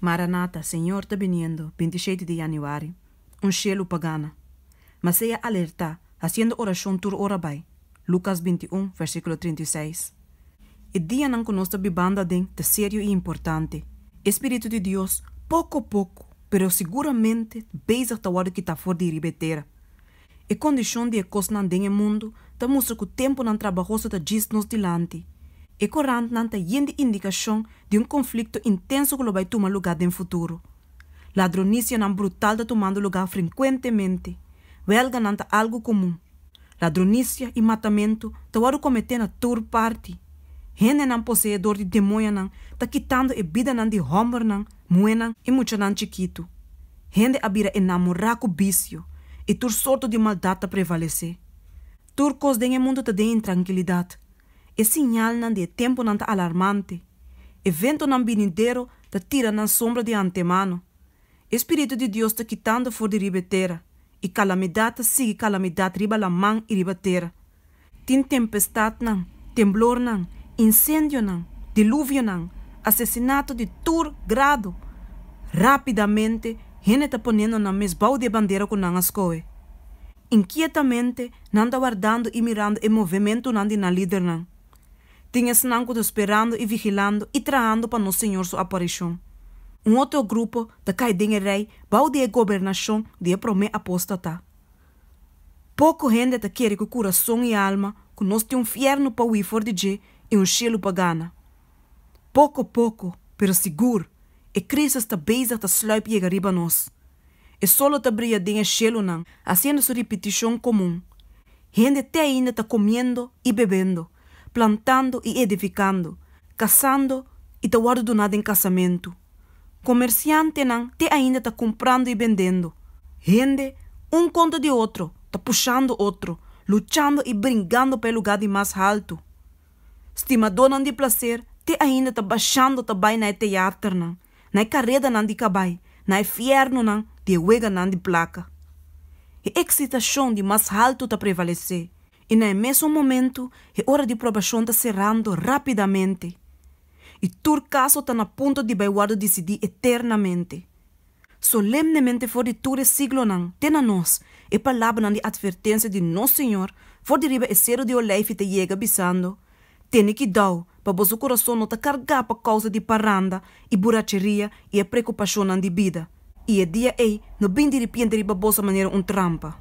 Maranata, Señor ta biniendo, bintisheiti di Yanuari, Un shelu pa gana. Ma sea alertá, haciendo oracion tur ora bai. Lucas binti i un, versículo trinta i seis. E dianan cu nos ta bibando aden ta serio i importante. E spiritu di Dios, poco poco, pero seguramente bezig ta worde kitá for di riba e tera. E kondishon di e kosnan den e mundu ta mustra ku tempunan trabahoso ta djis nos dilanti. E korantnan ta yen di indikashon di un konflikto intenso ku lo bai tuma lugá den futuro. Ladronisianan brutal ta tumando lugá frenkuentemente. Wèlganan ta algu komun. Ladronisia i matamentu ta wòrdu kometé na tur parti. Hendenan posee dor di demoñanan ta kitando e bidanan di hòmbernan, muhénan i muchanan chikitu. Hende a bira enamorá ku bisio i tur sorto di maldat ta prevalesé. Tur kos den e mundu ta den intrankilidat. E siñalnan di e tempunan ta alarmante. Eventonan binidero ta tira nan sombra di antemano. E spiritu di Dios ta kitando for di riba e tera, i kalamidat ta sigui kalamidat riba laman i riba tera. Tin tempestadnan, temblornan, insendionan, diluvionan, asesinato di tur grado. Rápidamente hende ta ponendo nan mes bou di e bandera ku nan a skohe. Inkietamente nan ta wardando i mirando e movementunan di nan lidernan. Tin esnan ku ta sperando i vigilando i trahando pa nos Señor su aparishon. Un otro grupo ta kai den e rei bou di e gobernashon di e promé apóstata. Poko hende ta kere ku kurason i alma ku nos tin un fièrnu pa hui for di dje i un shelu pa gana. Poko poko, pero sigur, e krísis ta bezig ta sluip yega riba nos. E sol lo ta bria den e shelunan, hasiendo su ripitishon komun. Hende te ainda ta komiendo i bebendo, plantando i edifikando, kasando i ta wòrdu duná den kasamentu. Komersiantenan te ainda ta kumprando i bendendo. Hende, un kontra di otro, ta pushando otro, luchando i bringando pa e lugá di mas haltu. Stimadónan di plaser te ainda ta bashando ta bai na e teaternan, na e karedanan di kabai, na e fièrnunan di e weganan di plaka. E eksitashon di mas haltu ta prevalesé, I na e mesun momentu e ora di probashon ta serando rápidamente, i tur kaso ta na punto di bai wòrdu disidí eternamente. Solemnemente for di tur e siglonan te na nos e palabranan di atvertensia di nos Señor for di riba e Seru di Olijf ta yega bisando, Tene kidau pa boso kurason no ta kargá pa kousa di paranda i buracheria i e prekupashonnan di bida, i e dia ei no bin diripiente riba boso manera un trampa.